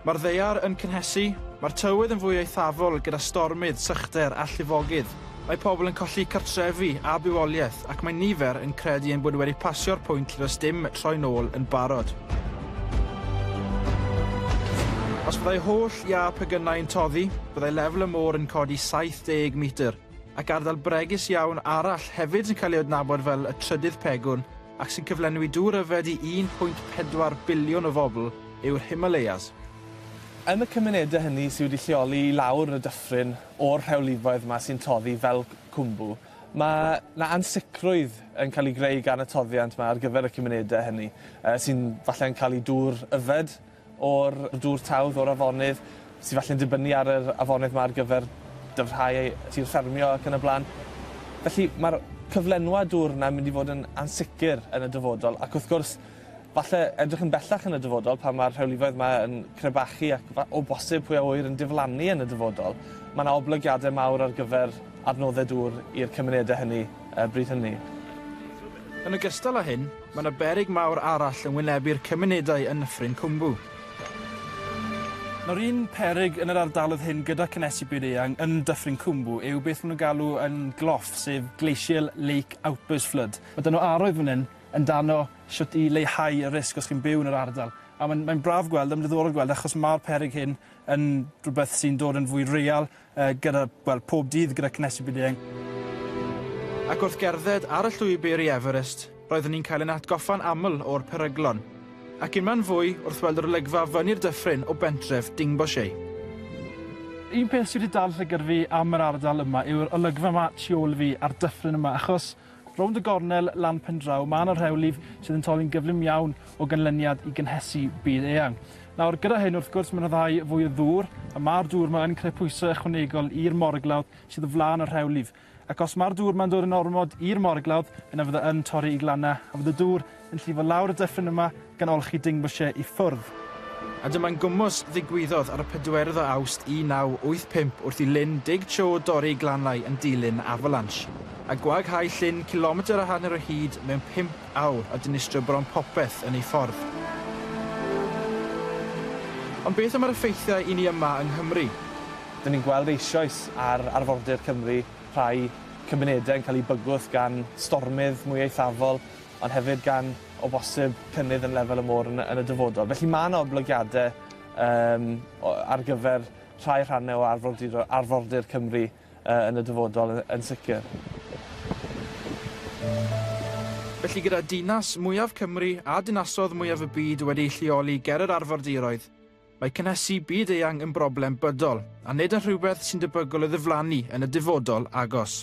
Mae'r ddaear yn cynhesu, mae'r tywydd yn fwy eithafol gyda stormydd, sychder a llifogydd. Mae pobl yn colli cartrefi a bywoliaeth ac mae nifer yn credu ein bod wedi pasio'r pwynt lle does dim troi'n ôl yn barod. Os byddai holl iâ pegynau yn toddi, byddai lefel y môr yn codi 70 metr, ac ardal bregus iawn arall hefyd yn cael ei adnabod fel y trydydd pegwn ac sy'n cyflenwi dŵr yfed i 1.4 biliwn o bobl yw'r Himalayas. Yn y cymunedau hynny sy wedi lleoli i lawr y dyffryn o'r rhewlifoedd yma sy'n toddi fel Khumbu, mae 'na ansicrwydd yn cael ei greu gan y toddiant 'ma ar gyfer y cymunedau hynny, sy'n falle'n cael eu dŵr yfed. o'r dŵr tawdd o'r afonydd sy falle'n dibynnu ar yr afonydd 'ma ar gyfer dyfrhau tir ffermio ac yn y bla'n. Felly ma'r cyflenwad dŵr 'na'n mynd i fod yn ansicr yn y dyfodol ac wrth gwrs falle edrych yn bellach yn y dyfodol pan ma'r rhewlifoedd 'ma yn crebachu ac fa- o bosib pwy a ŵyr yn diflannu yn y dyfodol ma' 'na oblygiade mawr ar gyfer adnodde dŵr i'r cymunede hynny yy bryd hynny. Yn ogystal â hyn, Mae yna beryg mawr arall yn wynebu'r cymunedau yn Nyffryn Cwmbw. Nawr un peryg yn yr ardaloedd hyn gyda cynnesu byd eang yn Dyffryn Cwmbw yw beth maen nhw'n galw yn GLOF, sef Glacial Lake Outburst Flood. Mae 'da nhw arwydd fan hyn yn dano shwt i leihau y risg os chi'n byw yn yr ardal. A mae'n mae'n braf gweld, a mae'n ddiddorol gweld achos ma'r peryg hyn yn rhywbeth sy'n dod yn fwy real Yy gyda, wel, pob dydd gyda cynhesu byd-eang. Ac wrth gerdded ar y llwybr i Everest, roeddwn i'n cael yn atgoffa'n aml o'r peryglon, ac unman fwy wrth weld yr olygfa fyny'r dyffryn o bentref Dingboche. Un peth sy wedi dal llygad fi am yr ardal yma yw'r olygfa 'ma tu ôl i fi, a'r dyffryn yma, achos Rownd y gornel lan pendraw, mae yna rhew lif sydd yn torri'n gyflym iawn o ganlyniad i gynhesu byd eang. Nawr, gyda hyn, wrth gwrs, mae'n rhyddhau fwy o ddŵr, a mae'r dŵr yma yn creu pwysau ychwanegol i'r moryglawdd sydd o flaen y rhew lif. Ac os mae'r dŵr yma'n dod yn ormod i'r moryglawdd, yna fydd e yn torri i glannau, a fydd y dŵr yn llifo lawr y dyffryn yma gan olchi Dingboche i ffwrdd. A dyma'n gwmws ddigwyddodd ar y pedwerydd o Awst 1985 wrth i Lyn Dig Cho dorri glanlai yn dilyn avalanche, a gwaghau llyn cilometr a hanner o hyd mewn pump awr a dinistrio bron popeth yn ei ffordd. Ond beth am yr effeithiau i ni yma yng Nghymru? Dyn ni'n gweld eisioes ar arfordir Cymru rhai cymunedau yn cael eu bygwth gan stormydd mwy eithafol, ond hefyd gan, o bosib, cynnydd yn lefel y môr yn y dyfodol. Felly mae yna oblygiadau um, ar gyfer rhai rhannau o arfordir, arfordir Cymru uh, yn y dyfodol yn, yn sicr. Felly gyda dinas mwyaf Cymru a dinasodd mwyaf y byd wedi'u lleoli ger yr arfordiroedd, mae cynhesu byd eang yn broblem bydol, a nid yn rhywbeth sy'n debygol o ddiflannu yn y dyfodol agos.